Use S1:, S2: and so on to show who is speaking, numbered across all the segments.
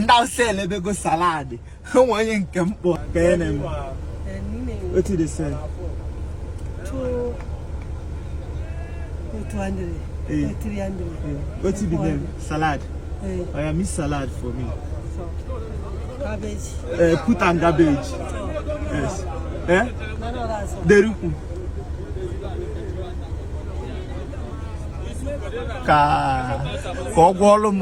S1: ndị awụsa elebego saladị ha nwe onye nke mkpọ ka ya na-eme what is this
S2: what's the
S1: name salad oya mix salad for me
S2: cabbage eh,
S1: put am cabbage yes eh derukwu ka ka ọ gwọọlụ m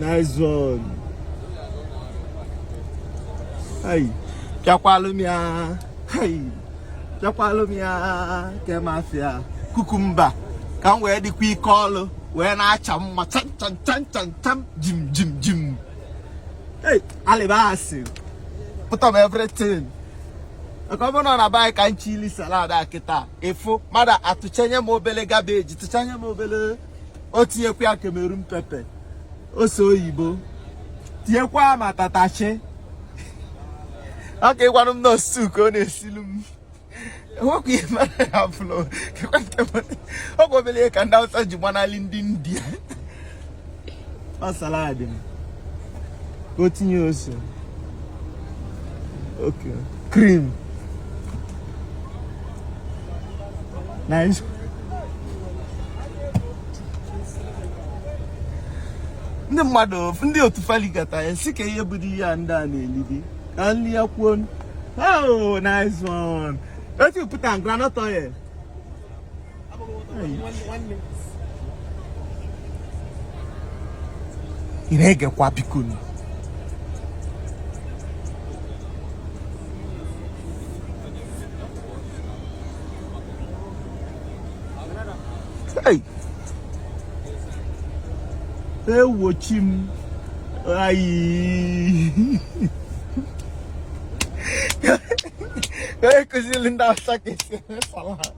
S1: Nice one. Hey, pịakwalụ m ya. Hey, pịakwalụ m ya. Kemafia, cucumber. Ka m wee dịkwa ike ọlụ wee na-acha mma cham cham cham cham cham jim jim jim. Hey, alibasi. Put am everything. Maka ọ bụrụ na ọ na-abaghị ka nchi ili salad a kịta ị fụ mmadụ atụchanye m obele cabbage tụchanye m obele o tinyekwa ya Cameroon pepper ose oyibo tinyekwa ya ma tatachi agwaghịkwanụ m na ọ soup ka ọ na-esilu m o nwekwa ihe mara ya bụla ọ kwa obele ihe ka ndị awụsa ji gbanali ndị india ọ salad m ka o tinye ose okay cream nice ndị mmadụ ndị otu faligata ya sị kee ihe bụdị ihe a ndị a na-elidi only akwụkwọ oh nice one oya put am groundnut oil ị na-egekwa bikonu ewo chi m ayi akuzili ndị awụsa ka esi eme salad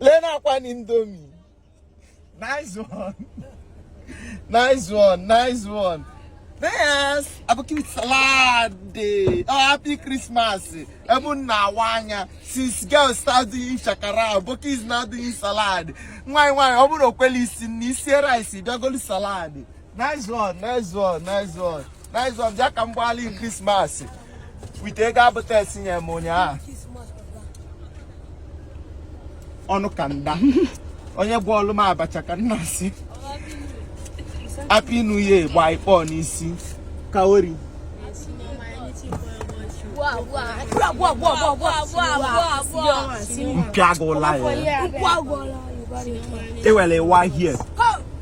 S1: lee na akwa na indomie nice one nice one nice one yes aboki salad oh happy christmas ebe m na-awa anya since girls start doing shakara aboki is now doing salad nwaanyị nwaanyị ọ bụrụ o kweli isi nni isie rice bịa golu salad nice one nice one nice one nice one bịa ka m gbaalụ gị krismas with ego abụta esinye m ụnyaahụ ọnụ ka nda onye gwọọlụ m abacha ka m na-asị happy new year gba gị ọkpọ n'isi kawori m pịa gị ụla ya ewere ịwa hie